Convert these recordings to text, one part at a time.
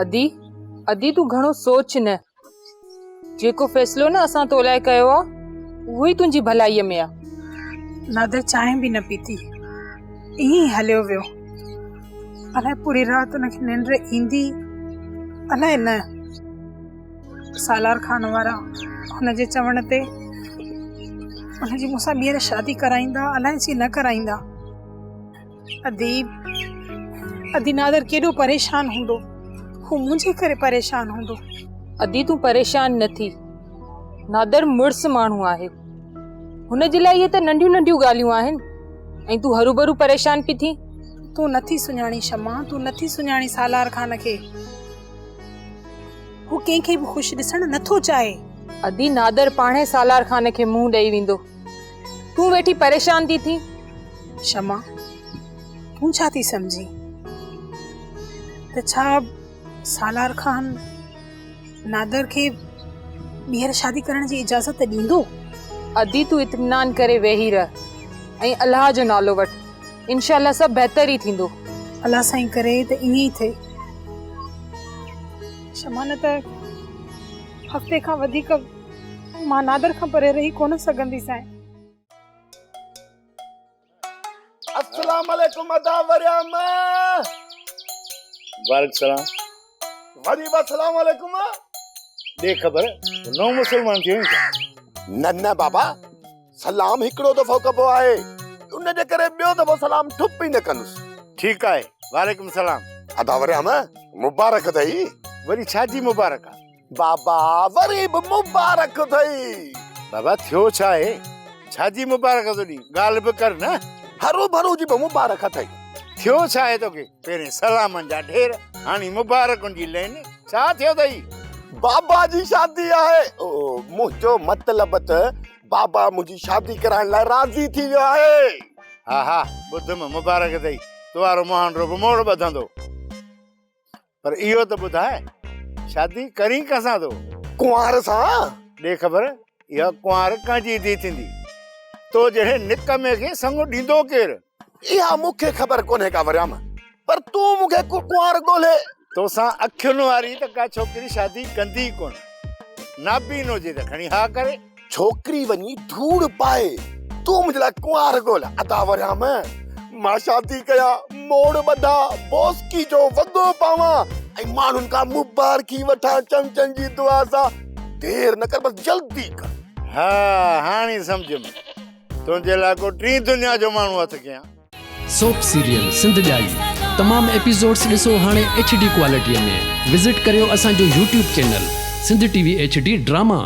ادي ادي تون گھڻو سوچ نه جيڪو فيصلو نه اسان تو لاء ڪيو آ اهو ئي تنهنجي ڀلائي ۾ آ نادر چانهه به نه پيتي ائين ئي هليو ويو الائي پوري رات ان کي ننڊ ايندي الائي نه سالار خان وارا هن جي چوڻ تي هن جي مون سان ٻيهر شادي ڪرائيندا الائي ڇي نه ڪرائيندا اديب ادي نادر ڪيڏو پريشان هوندو هو منهنجي ڪري پريشان هوندو ادي تون پريشان نه ٿي نادر مڙس ماڻهو آهي هن جي لاء اهي ته ننڍيون ننڍيون ڳالهيون آهن ۽ تون هروبرو پريشان پي ٿي تون نٿي سڃاڻي شما تون نٿي سڃاڻي سالار خان کي هو ڪنهن کي به خوش ڏسڻ نه ٿو چاهي. ادي نادر پاڻهي سالار خان کي منهن ڏئي ويندو. تون ويٺي پريشان ٿي ٿين. شمع تون ڇا ٿي سمجهين ته ڇا سالار خان نادر کي ٻيهر شادي ڪرڻ جي اجازت ڏيندو. ادي تون اطمينان ڪري ويهي رهه ۽ الله جو نالو وٺ. انشاء الله سڀ بهتر ئي ٿيندو. الله سائين ڪري ته ائين ئي ٿئي. شمع نه ته هفتي کان وڌيڪ مان نادر کان پري رهي ڪونه سگهندي سائين. السلام عليڪم ادا وريام. وعليڪم السلام. وري به السلام عليڪم ڏي خبر نو مسلمان ٿيو ڇا نه نه بابا سلام هڪڙو دفعو ڪبو آهي ان جي ڪري ٻيو دفعو سلام ٺپ ئي نه ڪندس ٺيڪ آهي وعليڪم السلام ادا وريام مبارڪ اٿئي وري ڇا جي مبارڪ آهي بابا وري به مبارڪ اٿئي. بابا ٿيو ڇا آهي؟ ڇا جي مبارڪ ٿو ڏين؟ ڳالهه به ڪر نه. هروڀرو جي به مبارڪ اٿئي. ٿيو ڇا آهي توکي؟ پهرين سلامن جا ڍير، هاڻي مبارڪن جي لين، ڇا ٿيو اٿئي؟ بابا جي شادي آهي. منهنجو مطلب ته بابا منهنجي شادي ڪرائڻ لاء راضي ٿي ويو آهي. ها ها ٻڌم، مبارڪ اٿئي. تو وارو مهانڊو به موڙ ٻڌندو. پر اهو ته ٻڌاء شادي ڪرين ڪنهن سان ٿو؟ ڪنوار سان. ڏي خبر اها ڪنوار ڪنهن جي ڌي ٿيندي؟ تو جهڙي نڪمي کي سڱو ڏيندو ڪير؟ اها مون کي خبر ڪونهي ڪا وريام، پر تون مون کي ڪو ڪنوار ڳولهي. توسان اکين واري ته ڪا ڇوڪري شادي ڪندي ئي ڪونه. نابين هجي ته کڻي ها ڪري. ڇوڪري وڃي ڌوڙ پائي، تون منهنجي لاء ڪنوار ڳول ادا وريام، مان شادي ڪيان، موڙ ٻڌان، بوسڪي جو وڳو پاوان ۽ ماڻهن کان مبارڪي وٺان، چمچن جي دعا سان، دير نه ڪر بس جلدي ڪر. ها هاڻي سمجهيم، تنهنجي لاء ڪو ٽين دنيا جو ماڻهو هٿ ڪيان. سوپ سيريل سنڌ ڄائي تمام ايپيسوڊس ڏسو هاڻي ايڇ ڊي ڪوالٽيء ۾ وزٽ ڪريو اسان جو YouTube channel Sindh T V H D drama.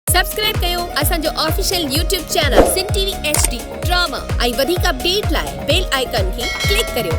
Subscribe ڪيو اسان جو official YouTube channel Sindh T V H D drama ۽ وڌيڪ اپڊيٽ لاء بيل آئيڪان کي ڪلڪ ڪريو.